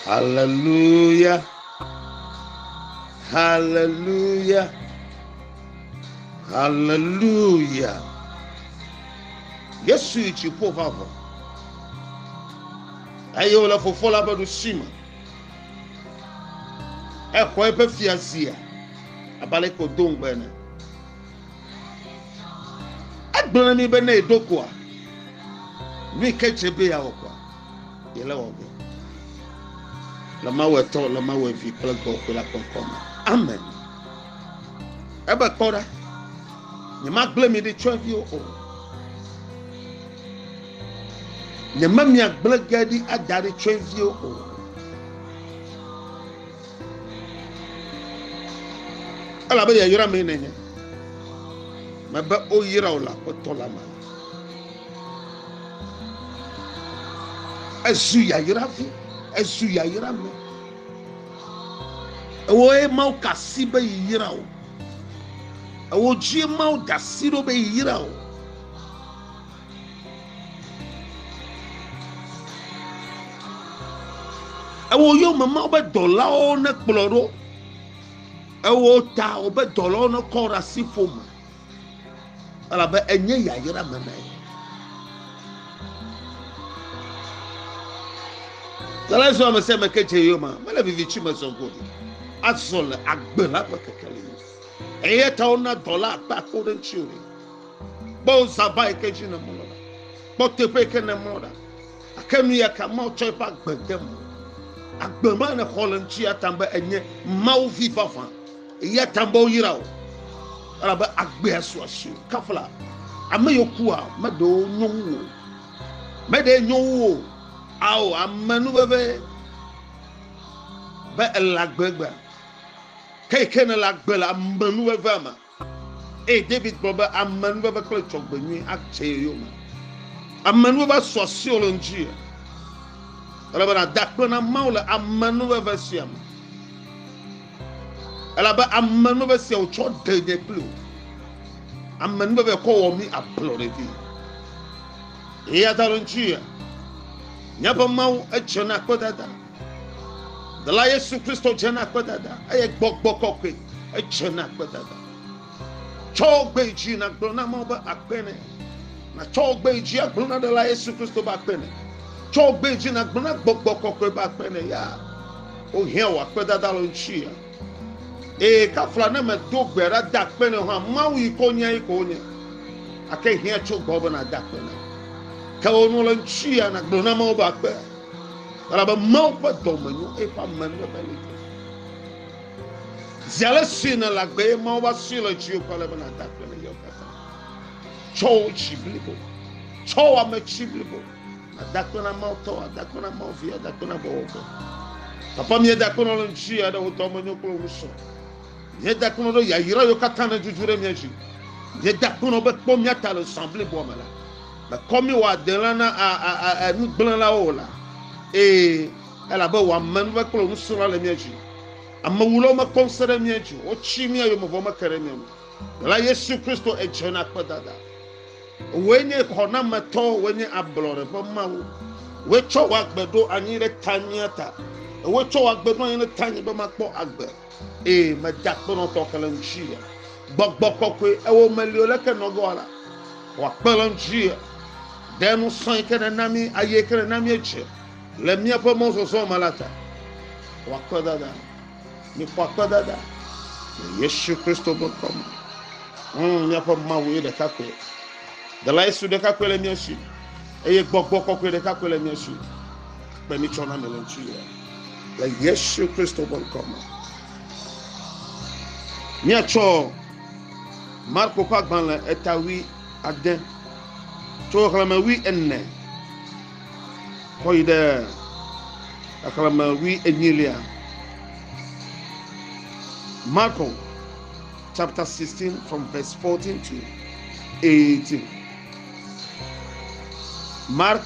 Hallelujah. Hallelujah. Hallelujah. Yesu yi dziƒo va vɔ eye wòle fofo la ƒe ɖusi me. Exɔ eƒe fiazia abe aleke wòdo ŋugbe ene. Egblɔ na mi be ne eɖo koa, nu yi ke dzre be yeawɔ koa, yele wɔ ge. Le Mawu Etɔ, le Mawu Evi kple Gbɔgbɔ la ƒe ŋkɔ me. Amen. Ebe kpɔ ɖa, nyemagblẽ mi ɖi tsyɔ̃eviwo o. Nyememia gblẽ ge ɖi ada ɖi tsyɔ̃eviwo o. Elabe yayra mee nènye. Mebe woyra wò le Aƒetɔ la me. Ezu yayra vi, ezu yayra me. Ewoe Mawu ka asi be yeyra wò. Ewo dzie Mawu da asi ɖo be yeyra wò. Ewɔ yome ma wobe dɔlawo ne kplɔ ɖo. Ewɔ ta wobe dɔlawo ne kɔ ɖe asi ƒome. Elabe enye yayra me na ye. Dɔla zɔ ame sia ame ke dze yoma. Mele vivitsi me zɔ go ɖi. Azɔ le agbe la ƒe kekeli. Eya ta wona dɔla akpa akpa ɖe ŋuti o. Kpɔ zaba yi ke dzi nèmlɔ ɖa. Kpɔ teƒe yi ke nèmlɔ ɖa. Gake nu ya ka Mawu tsɔ eƒe agbe de me? Agbe ma nèxɔ le ŋuti ya ta be enye Mawu vi vavã. Eya ta be woyra wò. Elabe agbea su asiwò. Kafla ame yiwo kua, meɖe wo nyo wu wò. Meɖe nyo wu wò. Ao, ame nu veve be ele agbe gbea. Ke yi ke nèle agbe le ame nu vevea me. Eye David gblɔ be, Amenuveve kple dzɔgbenyui adze ye yome. Amenuveve asu asiwò le ŋuti. Ele be nàda akpe na Mawu le amenuveve sia me, elabe amenuveve sia wòtsɔ ɖe nye kple wò. Amenuveve kɔ wɔ mí ablɔɖe vɛ. Eyata ɖo ŋuti míaƒe Mawu edze na kpedada. Dela Yesu Kristo dze na kpedada eye gbɔgbɔ kɔkɔe edze na kpedada. Tsɔ gbe dzi na gblɔ na mɔ be akpe ne. Na tsɔ gbe dzi agblɔ na dela Yesu Kristo be akpe ne. Tsɔ gbe dzi na gblɔ na gbɔgbɔ kɔkɔe be akpe ne ya. O hia wɔ akpedada le ŋutsu ya. Ee kafla ne me do gbe ɖa da akpe ne hã mawu yi ko nya yi ko nye. Ake hia tso gbɔ be na da akpe ne. Ke o nu le ŋutsu ya na gblɔ na mɔ be akpe. Elabe Mawu ƒe dɔ me nyo, eye ƒe ame nyo be li ke. Zi ale si nèle agbe ye Mawu va sue le dziwò kple ale be nàda akpe le yewo katã. Tsɔ wò dzi blibo, tsɔ wò ame tsi blibo, ada akpe na Mawu tɔ, ada akpe na Mawu vi, ada akpe na Gbɔgbɔ. Papa mi da akpe na le ŋuti aɖe wò dɔ me nyo kple wò sɔ. Mi da akpe na ɖo yayra yewo katã ne dzudzure mi dzi. Mi da akpe na be kpɔ mi ata le zã blibo me la. Mekɔ mí wòadelã na nugblẽlawo o la, ee, elabe wòame nu be kple wò nusrɔ̃la le mía dzi. Amewulawo mekpɔ ŋusẽ ɖe mía dzi o, wotsi mía yome vɔ meke ɖe mía ŋu. Ɖela Yesu Kristo, èdze na akpedada. Wòe nye xɔnametɔ, wòe nye ablɔɖe ƒe Mawu. Wòe tsɔ wò agbe ɖo anyi ɖe tanyea ta, ewòe tsɔ wò agbe ɖo anyi ɖe tanye be makpɔ agbe. Eye meda kpe nɔ tɔ kele ŋtsi ye. Gbɔgbɔ kɔkɔe ewo me lio leke nɔgɔ ala. Wa kpe le ŋtsi ye. De nu sɔe ke ne nami aye ke ne nami edze le mia ƒe mɔ zɔzɔ me la ta. Wa kpe dada. Mi kpɔ akpe dada. Le Yesu Kristo be kɔme. Hmm, mia ƒe mawu ye ɖeka kɔe. Dela Yesu ɖeka kɔe le mia si. Eye gbɔgbɔ kɔkɔe ɖeka kɔe le mia si. Kpe mi tsɔ na mi le ŋtsi ye. le yesu kristo ƒe ŋkɔ me míatsɔ marko ƒe agbalẽ eta wi ade tso xexlẽme wi ene kɔ yi ɖe xexlẽme wi enyilia marko chapter 16 from verse 14 to 18 mark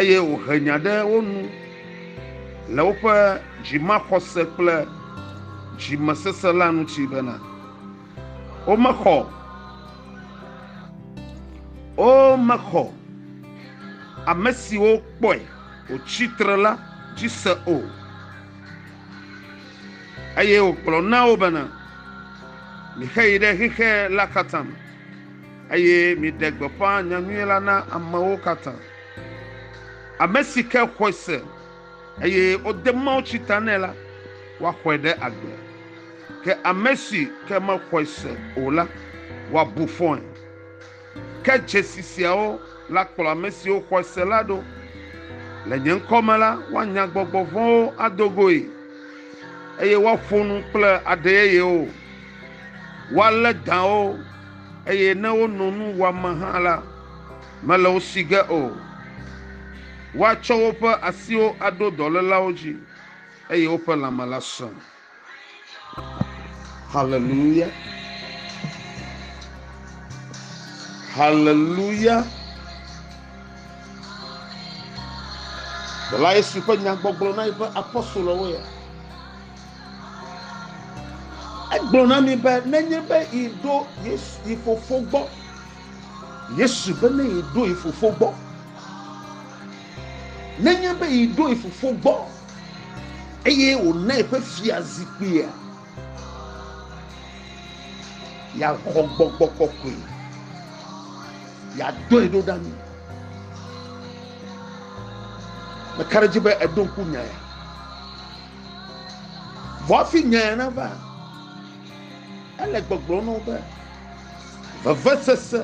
eye wòhe nya ɖe wo nu le woƒe dzimaxɔse kple dzimesesẽ la ŋuti bena womexɔ womexɔ ame siwo kpɔe wòtsi tre la dzi se o eye wògblɔ na wo bena mixeyi ɖe xexe la katã me. Eye miɖe gbeƒã nya nyui la na amewo katã. Ame si ke xɔe se, eye wode mawutsi ta nɛ la, woaxɔe ɖe agbe. Ke ame si ke mexɔe se o la, woabu fɔe. Ke dzesi siawo la kplɔ ame siwo xɔe se la ɖo, Le nye ŋkɔ me la, woanya gbɔgbɔ vɔ̃wo ado goe, eye woaƒo nu kple aɖe yeyewo. Woalé dãwo. eye ne wono nu wɔam hã la, mele wo si ge o. Woatsɔ woƒe asiwo aɖo dɔlélawo dzi, eye woƒe lãme la sẽ. Haleluya! Haleluya! Ɖela Yesu ƒe nyagbɔgblɔ na eƒe apostolowo ya. Egblɔ na mi be nenye be yi ɖo Yesu yi fofo gbɔ. Yesu be ne yi ɖo yi fofo gbɔ. Nenye be yi ɖo yi fofo gbɔ eye wòna eƒe fia zikpuia, yàxɔ gbɔgbɔ kɔkɔe, yàdɔe ɖo ɖa mi. Meka ɖe edzi be eɖo ŋku nya ya. Vɔ afi nyae nava, ele gbɔgblɔ na wo be, vevesese,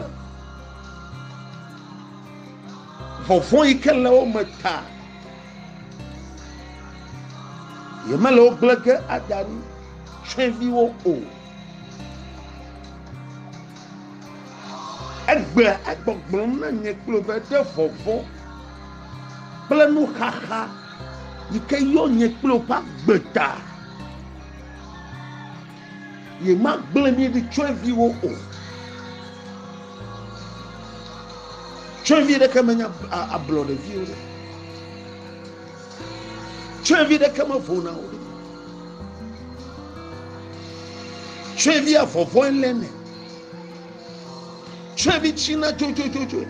vɔvɔ̃ yi ke le wo me ta, yemele wo gblẽ ge ada ɖi tsyɔ̃eviwo o. Egbea egbɔgblɔm na nye kple wò be ɖe vɔvɔ̃ kple nuxaxa. yi ke yɔ nye kple woƒe agbe ta. Yemagblẽ mí ɖi tsyɔ̃eviwo o. Tsyɔ̃evi ɖeke menye ablɔɖeviwo ɖe. Tsyɔ̃evi ɖeke mevona o ɖe. Tsyɔ̃evia vɔvɔe lé nɛ. Tsyɔ̃evi tsina dzodzodzoe.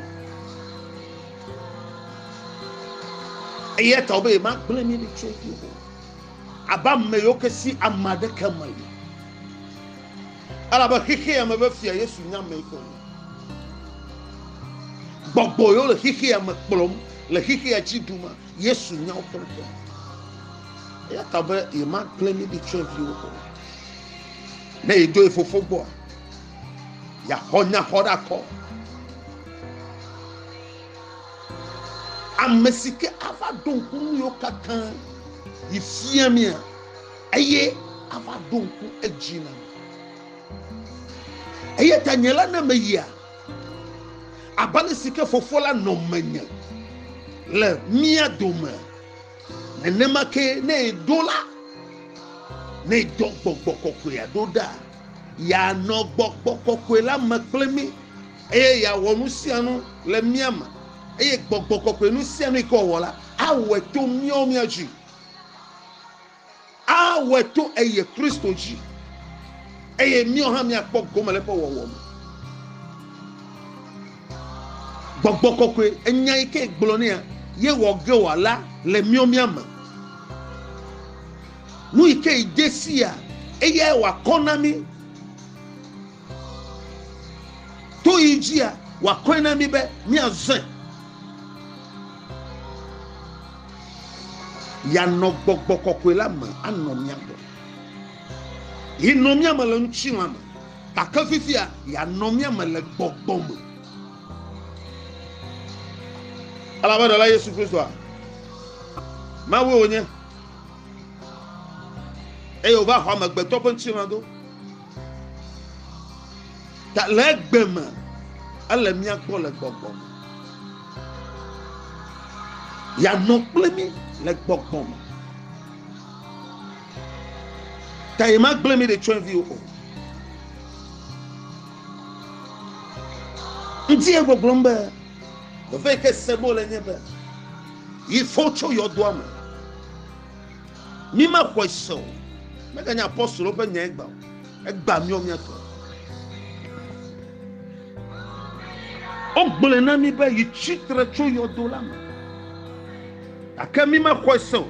eya ta be yemagblẽ mi ɖi tso dzi o abe ame yiwo ke si ame aɖeke me yi elabe xexea me be fia yesu nya ame yi ke wònye gbɔgbɔ yiwo le xexea me kplɔm le xexea dzi ɖum yesu nya wo pɛpɛpɛ eya ta be yemagblẽ mi ɖi tso dzi o ne yedo ye fofo gbɔa yaxɔ nya xɔ ɖe akɔ. Ame si ke ava ɖo ŋku nu yiwo katã yi fia mía eye ava ɖo ŋku edzi na mi. Eya ta nye la ne meyia, abe ale si ke Fofo la nɔ menye le mía dome, nenema ke ne eɖo la, ne edɔ gbɔgbɔ kɔkɔea ɖo ɖa, yeanɔ gbɔgbɔ kɔkɔe la me kple mí. Eye yeawɔ nu sia nu le mía me, eye gbɔgbɔ kɔkɔe nu sia nu yi ke wòwɔ la, awɔe to míawo mía dzi. Awɔe to eye Kristo dzi, eye míawo hã míakpɔ gome le eƒe wɔwɔ me. Gbɔgbɔ kɔkɔe, enya yi ke gblɔ nea yewɔ ge wɔ la le míawo mía me. Nu yi ke de sia, eyae wòakɔ na mí. To yi dzia, wòakɔe na mí be míazẽ, yeanɔ gbɔgbɔ kɔkɔe la me anɔ mía gbɔ. Yenɔ mía me le ŋutilã me, gake fifia yeanɔ mía me le gbɔgbɔ me. Elabe Ɖela Yesu Kristoa, Mawue wònye, eye wòva xɔ amegbetɔ ƒe ŋutilã do. Ta le egbe me, ele mía gbɔ le gbɔgbɔ me. Yanɔ kple mí le gbɔgbɔ me. Ta ye magblẽ mí ɖe tsyɔ̃eviwo o. Ŋdi ye gbɔgblɔm be, veve yi ke sem wole nye be, yi fɔ tso yɔdoa me. Mi me xɔe se o. Me ganye apostolo ƒe nya egba o. Egba miɔ mia tɔ. O gblɔe na mi be yi tsitre tso yɔdo la me. Ake mi me xɔe se o.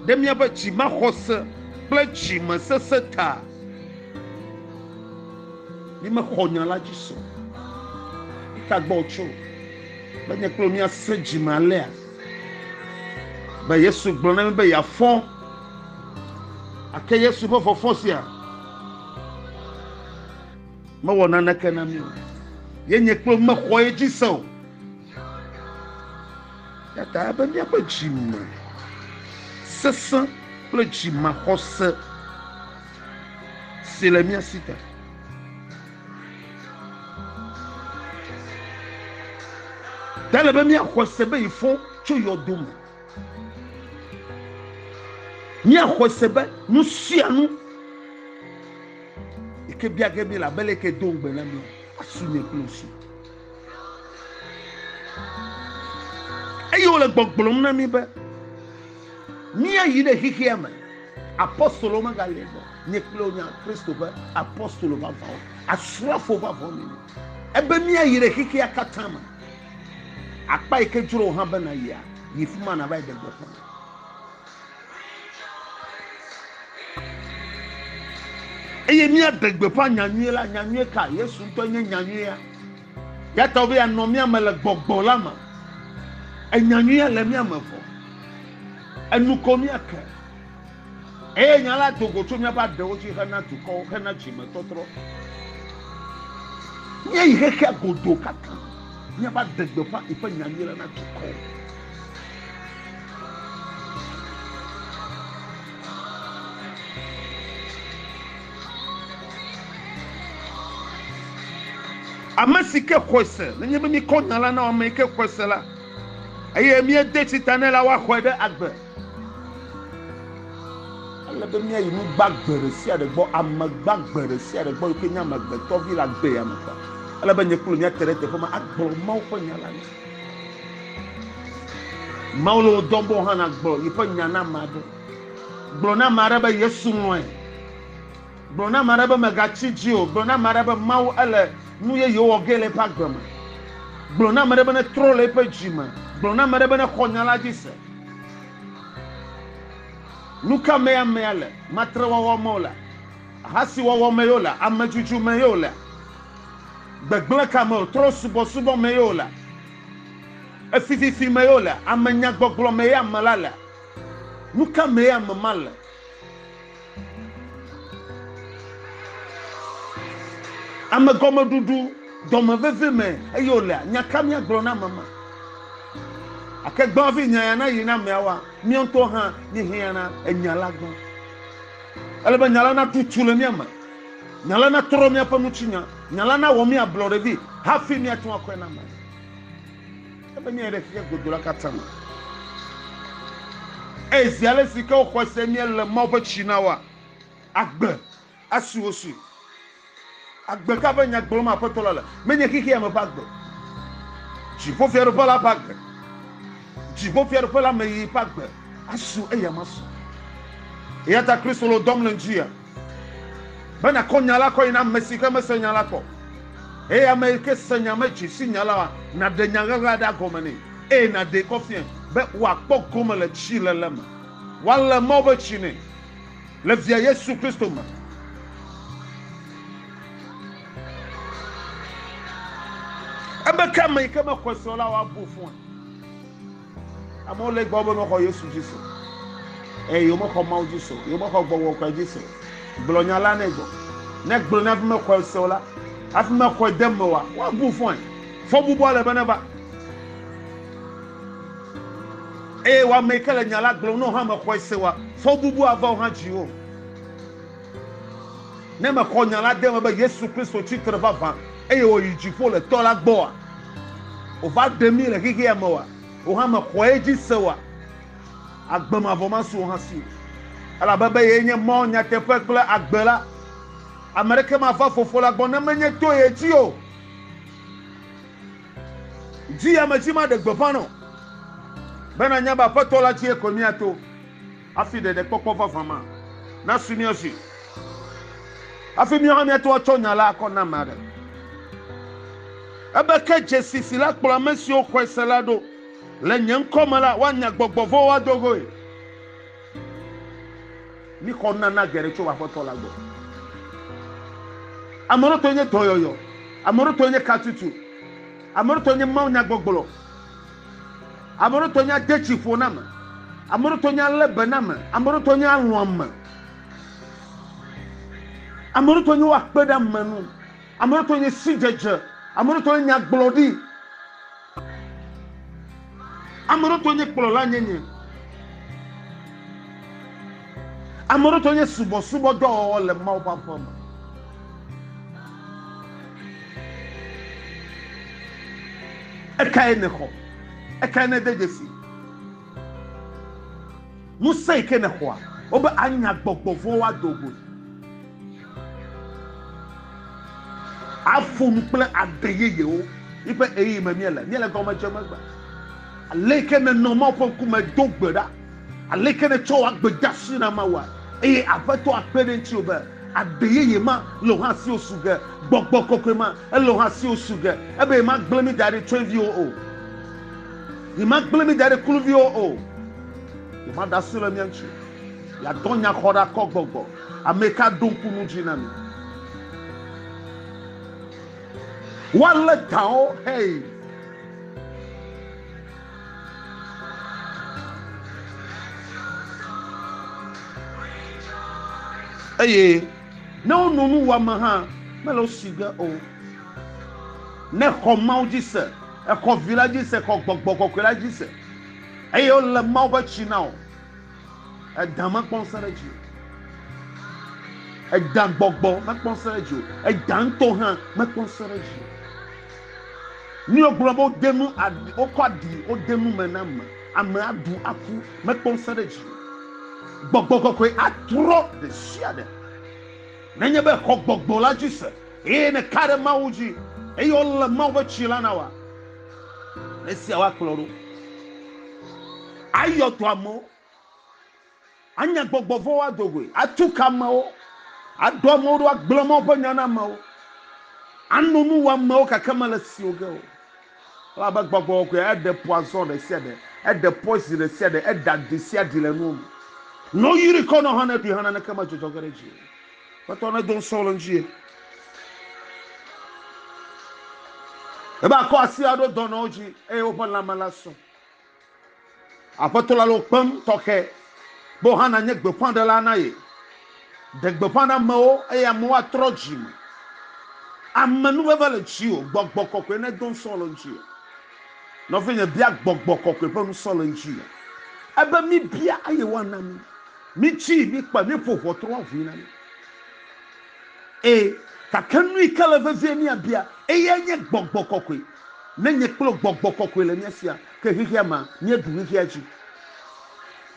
Ɖe mia be tsi ma xɔ se kple tsi me sese ta. Mi me xɔ nya la dzi se o. Ita gbɔ tso. Be nye kple mia se dzi me alea. Be Yesu gblɔ na mi be yeafɔ. Ake Yesu ƒe fɔfɔ sia mewɔ naneke na mi o. Yenye kple mexɔ ye dzi se o. Yata ebe míaƒe dzime sesẽ kple dzimaxɔse si le mía si ta. Ta le be míaxɔ se be yi fɔ tso yɔdo me. Míaxɔ se be nu sia nu yi ke bia ge míele abe le yi ke do ŋugbe na mí asu nye kple wo si. Eye wole gbɔgblɔm na mí be. Míayi ɖe xexea me. Apostolowo megale gbɔ. Nye kple wò nya Kristo ƒe apostolo vavãwo, asrafo vavãwo míenye. Ebe míayi ɖe xexea katã me. Akpa yi ke dzro wò hã be nàyia, yi fi ma nàva yi ɖe gbeƒã. Eye míaɖe gbeƒã nya nyui la. Nya nyui ka? Yesu ŋutɔe nye nya nyuia. Yata be anɔ mía me le gbɔgbɔ la me. Enya nyui ale mía me vɔ. Enu ko mía ke. Eye nya la do go tso míaƒe aɖewo dzi hena dukɔwo, hena dzime tɔtrɔ. Mía yi xexea godo katã. Mía va de gbeƒã yi ƒe nya nyui la na dukɔwo. Ame si ke xɔe se, nenye be míkɔ nya la na ame yi ke xɔe se la, eye míede tsi ta nɛ la, woaxɔe ɖe agbe. Ele be míayi nu gbagbe ɖe sia ɖe gbɔ, ame gbagbe ɖe sia ɖe gbɔ yi ke nye Amegbetɔ Vi la gbe ya me kpɔ. Ele be nye kple wò míate ɖe teƒe ma agblɔ Mawu ƒe nya la na. Mawu le wò dɔm be wò hã nàgblɔ yeƒe nya na ame aɖe. Gblɔ na ame aɖe be Yesu lɔ̃e. Gblɔ na ame aɖe be mègatsi dzi o. Gblɔ na ame aɖe be Mawu ele nu yeye wɔ ge le eƒe agbe me. Gblɔ na ame aɖe be netrɔ le eƒe dzi me. Gblɔ na ame aɖe be nexɔ nya la dzi se. Nu ka mee amea le? Matrewɔwɔ me wòle? Ahasiwɔwɔ mee wòle? Amedzudzu mee wòle? Gbegblẽ ka me wòle? Trɔ̃subɔsubɔ mee wòle? Efififi mee wòle? Amenyagbɔgblɔ mee ame la le? Nu ka mee ame ma le? Ame gɔmeɖuɖu, dɔme veve me eye wòlea? Nya ka míagblɔ na ame ma? Ake gbã hafi nyaya nayi na ameawoa, mía ŋutɔwo hã míehiãna enya la gbã. Ele be nya la natu tu le mía me. Nya la natrɔ míaƒe nutsinya. Nya la nawɔ mí ablɔɖevi hafi míate ŋu akɔe na ame. Ebe míayi ɖe xexe godo la katã me. Eye zi ale si ke woxɔe se míele Mawu ƒe tsi na woa, agbe asi wo si. Agbe ka ƒe nya gblɔm Aƒetɔ la le? Menye xexea me ƒe agbe o. Dziƒofiaɖuƒe la ƒe agbe. Dziƒofiaɖuƒe la me yiyi ƒe agbe asu eya masu. Eyata Kristo le wo dɔm le ŋdi ya. Be nàkɔ nya la kɔe na ame si ke mesẽ nya la kpɔ o, eye ame yi ke sẽ nya me dzi si nya la, nàɖe nya ʋeʋea ɖa gɔme nɛ, eye nàɖee kɔ fiae, be wòakpɔ gome le tsiléle me, woalé Mawu ƒe tsi nɛ le Via Yesu Kristo me. Ebe ke ame yi ke mexɔe se o la, woabu fɔe. Amewo le egbɔ be womexɔ Yesu dzi se o, eye womexɔ Mawu dzi se o, womexɔ gbɔgbɔ kɔe dzi se o. Gblɔ nya la nɛ gbɔ. Ne gblɔ ne hafi mexɔe se o la, hafi mexɔe de eme oa, woabu fɔe. Fɔbubua le be neva. Eye wò ame yi ke le nya la gblɔm ne wò hã mexɔe se oa, fɔbubu ava wò hã dziwò. Ne mexɔ nya la de eme be Yesu Kristo tsi tre vavã eye wòyi dziƒo le tɔ la gbɔa? Wòva ɖe mí le xexea me oa? Wò hã mèxɔe edzi se oa? Agbe mavɔ masu wò hã si o. Elabe be yee nye mɔ, nyateƒe kple agbe la, ame aɖeke mava Fofo la gbɔ ne menye to ye dzi o. Dzi ya me dzi maɖe gbeƒã nɔ. Be nànya be Aƒetɔ la dzie koe míato. Hafi ɖeɖekpɔkpɔ vavã ma nasu mía dzi, hafi míawo hã míate ŋu atsɔ nya la akɔ na ame aɖe. Ebe ke dzesi si la kplɔ ame siwo xɔe se la ɖo, Le nye ŋkɔ me la, woanya gbɔgbɔ vɔ̃wo ado goe. Míxɔ nunana geɖe tso Aƒetɔ la gbɔ. Ame ɖo tɔe nye dɔyɔyɔ, ame ɖo tɔe nye katutu, ame ɖo tɔe nye mawunyagbɔgblɔ. Ame ɖewo tɔ nya de tsi ƒo na me. Ame ɖewo tɔ nya lé be na me. Ame ɖewo tɔ nya lɔ̃ ame. Ame ɖewo tɔ nye woakpe ɖe ame nu. Ame ɖewo tɔ nye sidzedze. Ame ɖewo tɔ nye nyagblɔɖi. Ame ɖewo tɔ nye kplɔla nyenye. Ame ɖewo tɔ nye subɔsubɔdɔwɔwɔ le Mawu ƒe aƒe me. Ekae nèxɔ? Ekae nède dzesi? Ŋusẽ yi ke nèxɔa, wobe anya gbɔgbɔ vɔ̃wo ado goe. Aƒo nu kple aɖe yeyewo yi ƒe ɣeyiɣi me míele. Míele gɔme dzem egbe. Ale yi ke nènɔ Mawu ƒe ŋkume do gbe ɖa, ale yi ke nètsɔ wò agbedeasi na Mawua, eye Aƒetɔa kpe ɖe ŋutiwò be, Agbe yeye ma le wò hã si wò su ge. Gbɔgbɔ kɔkɔe ma ele wò hã si wò su ge. Ebe yemagblẽ mí da ɖe tsyɔ̃eviwo o. Yemagblẽ mí da ɖe kluviwo o. Yemaɖe asi le mía ŋuti o. Yeadɔ nyaxɔɖeakɔgbɔgbɔ. Ameke aɖo ŋku nu dzi na mí? Woalé dawò, hey! eye ne wonɔ nu wɔame hã mele wo si ge o ne xɔ mawo dzi se exɔ vi la dzi se xɔ gbɔgbɔ kɔkɔe la dzi se eye wole mawo ƒe tsi na o edã mekpɔ ŋusẽ ɖe dzi edã gbɔgbɔ mekpɔ ŋusẽ ɖe dzi o edã ŋutɔ hã mekpɔ ŋusẽ ɖe dzi o. Míawo gblɔ be wode nu aɖi, wokɔ aɖi, wode nu me na ame, ame aɖu aku, mekpɔ ŋusẽ ɖe dzi. Gbɔgbɔ kɔkɔe atrɔ ɖe sia ɖe. Nenye be xɔ gbɔgbɔ la dzi se eye nèka ɖe Mawu dzi eye wole Mawu ƒe tsi la na wòa, esiawo akplɔ ɖo ayɔ dɔamewo. Anya gbɔgbɔ vɔ̃wo ado goe, atu ka amewo, aɖo amewo ɖo, agblẽ Mawu ƒe nya na amewo, ano nu wɔ amewo gake mele siwo ge o. Elabe gbɔgbɔ kɔkɔea eɖe ƒo azɔ ɖe sia ɖe, eɖe ƒoe zi ɖe sia ɖe, eɖea ɖi sia ɖi le nuwo me. Ne woyrii kɔ nɔ hã, ne ɖui hã, naneke medzɔdzɔ ge ɖe edzi o. Aƒetɔ nedo ŋusẽ le ŋuti. Ebe akɔ asi aɖo dɔnɔwo dzi, eye woƒe lãme la sɔ. Aƒetɔ la le wò kpem tɔxɛ be wò hã nànye gbeƒãɖela na ye. Ɖe gbeƒã na amewo eye amewo atrɔ dzi me. Amenuveve le dziwò, gbɔgbɔ kɔkɔe nedo ŋusẽ le ŋutiwò. Nɔvinye, bia gbɔgbɔ kɔkɔe ƒe ŋusẽ le ŋutiwò. Ebe míbia eye woana mí. Mítsii, míkpɔe, míeƒo ʋɔtru woaʋui na mí. Ẽ, gake nui ke le vevie míabia, eyae nye gbɔgbɔ kɔkɔe. Ne nye kple gbɔgbɔ kɔkɔe le mía sia ke xexea mea, míeɖu xexea dzi.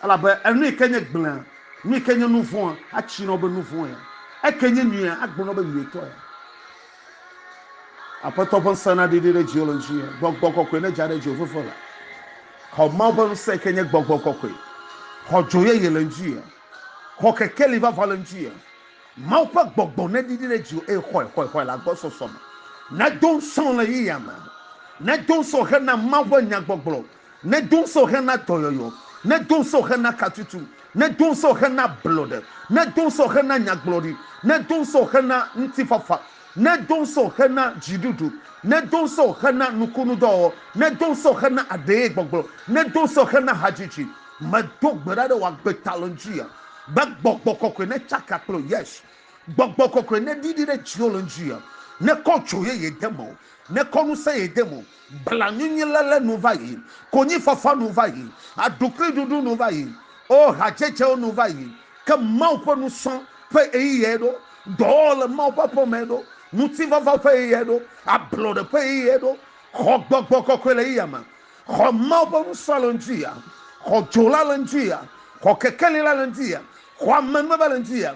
Elabe enui ke nye gblẽa, nui ke nye nu vɔ̃a, atsii na wo be nu vɔ̃ ya, eke nye nyuia, agblɔ na wo be nyuitɔ ya. Aƒetɔ ƒe ŋusẽ naɖiɖi ɖe dziwò le ŋutinye. Gbɔgbɔ kɔkɔe nedza ɖe dziwò veve la. Xɔ Mawu ƒe ŋusẽ ke nye gbɔgbɔ kɔkɔe. Xɔ dzo yeye le ŋutinye. Xɔ kekeli vavã le ŋutinye. Mawu ƒe gbɔgbɔ neɖiɖi ɖe dziwò eye xɔe xɔe xɔe le agbɔsɔsɔ me. Nedo ŋusẽ wò le ɣeyiɣia me. Nedo ŋusẽ wò hena Mawu ƒe nya gbɔgblɔ. Nedo ŋusẽ wò hena dɔyɔyɔ. Nedo ŋusẽ wò hena katutu. Nedo ŋusẽ wò hena ablɔɖe. Nedo ŋusẽ wò hena nyagblɔɖi. Nedo ŋusẽ wò hena ŋutifafa. Nedo ŋusẽwò hena dziɖuɖu. Nedo ŋusẽwò hena nukunudɔwɔwɔ. Nedo ŋusẽwò hena aɖeyegbɔgblɔ. Nedo ŋusẽwò hena hadzidzi. Medo gbe ɖa ɖe wò agbe ta le ŋdziya be Gbɔgbɔ Kɔkɔe netsaka kple wò. Yes. Gbɔgbɔ Kɔkɔe neɖiɖi ɖe dziwò le ŋdziya. Nekɔ dzo yeye de mewò. Nekɔ ŋusẽ yeye de mewò. Blanunyiléle nu va yi, konyifafa nu va yi, aɖukliɖuɖu nu va yi, o hadzedzewo nu va yi. Ke Mawu ƒe nusrɔ̃ ƒe ɣeyiɣiae ɖo, dɔwɔwɔ le Mawu ƒe aƒe mee ɖo, ŋutifafaa ƒe ɣeyiɣiae ɖo, ablɔɖe ƒe ɣeyiɣiae ɖo. Xɔ gbɔgbɔ kɔkɔe le ɣeyiɣia me. Xɔ Mawu ƒe nusrɔ̃a le ŋutiɣia. Xɔ dzo la le ŋutiɣia. Xɔ kekeli la le ŋutiɣia. Xɔ amenuveve le ŋutiɣia.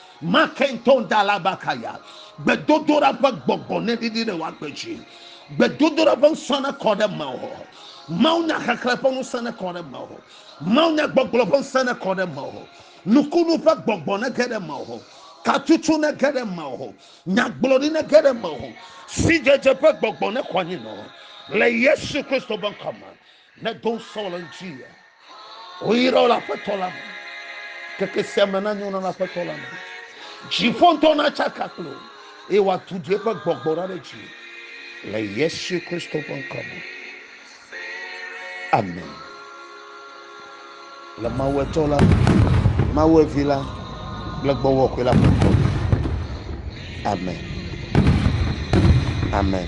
Makenton Dalabakaya, gbedodoɖa ƒe gbɔgbɔ neɖiɖi ɖe woagbe dzi. Gbedodoɖa ƒe ŋusẽ nekɔ ɖe mewò. Mawunya xexlẽ ƒe ŋusẽ nekɔ ɖe mewò. Mawunya gbɔgblɔ ƒe ŋusẽ nekɔ ɖe mewò. Nukunu ƒe gbɔgbɔ nege ɖe mewò. Katutu nege ɖe mewò. Nyagblɔɖi nege ɖe mewò. Sidzedze ƒe gbɔgbɔ nekɔ anyi nɔ wò. Le Yesu Kristo ƒe ŋkɔ me. Ne do ŋusɔ le ŋuti ya, woyra wo le aƒetɔ la me. Keke sia me na nyo na le aƒetɔ la me. Dziƒo ŋutɔ na tsaka kple wo, eye wòatutu eƒe gbɔgbɔ ɖa ɖe dzi le Yesu Kristo ƒe ŋkɔ me. Amen. Le Mawu etsɔ la, Mawu evi la kple gbɔwɔ kɔe la ƒe ŋkɔ me. Amen. Amen.